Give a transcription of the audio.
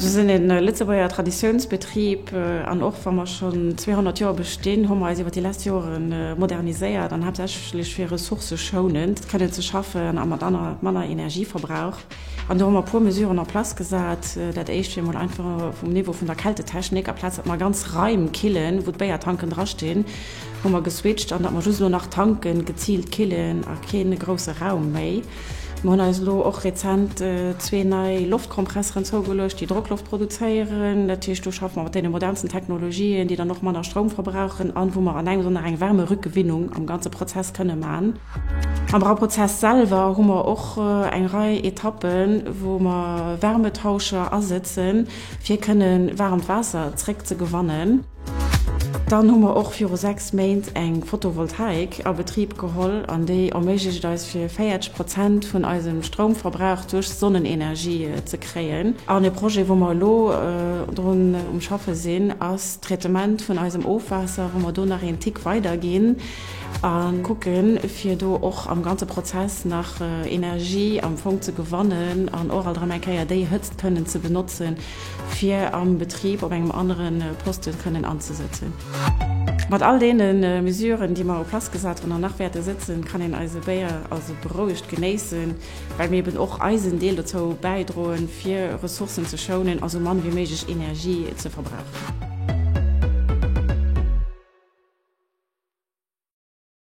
Mir sinn e Lëtzebuerger Traditiounsbetrib an och wa mer schonn 200 Joer bestinn, hu mer eis iwwer déi lescht Jore moderniséiert an haaptsächlech fir ressourcëschounend kënnen ze schaffen a mat manner Energieverbrauch. An do hu mer e puer Mesuren en place gesat. Dat éischt wier emol einfach vum Niveau vun der Kältetechnik, amplaz datt mer ganz Raim killen, wou d'Béiertanken drastinn, Hu mer geswitcht an datt mer just elo nach tanken, geziilt killen a kee grousse Raum méi. Mer hunn eis elo och rezent zwee nei Loftkompresseren zougeluecht, déi Drockloft produzéieren. Dat heescht, do schaffe mer mat deene modernsten Technologien, déi dann och manner Stroum verbrauchen an wou mer an engems an nach eng Wärmerückgewinnung am ganze Prozess kënne man. Am Brauprozess selwer hu mer och eng Rei Etappen, wou mer Wärmetauscher asëtzen, fir kënnen waarmt Waasser zréckzegewannen. Dann hu mer och viru 6 Méint eng Photovoltaik a Betrib geholl an déi erméiglecht et eis fir 40 Prozent vun eisem Stroumverbrauch duerch Sonnenenergie ze kréien. An e Projet wou mer elo drun um schaffe sinn ass d'Traitement vun eisem Ofwaasser, wou mer do nach een Tick weider ginn a kucke fir do och am ganze Prozess nach Energie am Fong ze gewannen an och alt erëm eng Kéier déi Hëtzt kënnen ze benotzen, fir am Betrib op engem anere Poste kënnen anzesëtzen. Mat all deene Mesuren, déi mer op d'Plass gesat hunn an nach wäerte sëtzen, kann een eise Béier also berouegt genéissen, well mir eben och eisen Deel dozou bäidroen, fir Ressourcen ze schounen a sou mann wéi méiglech Energie ze verbrauchen.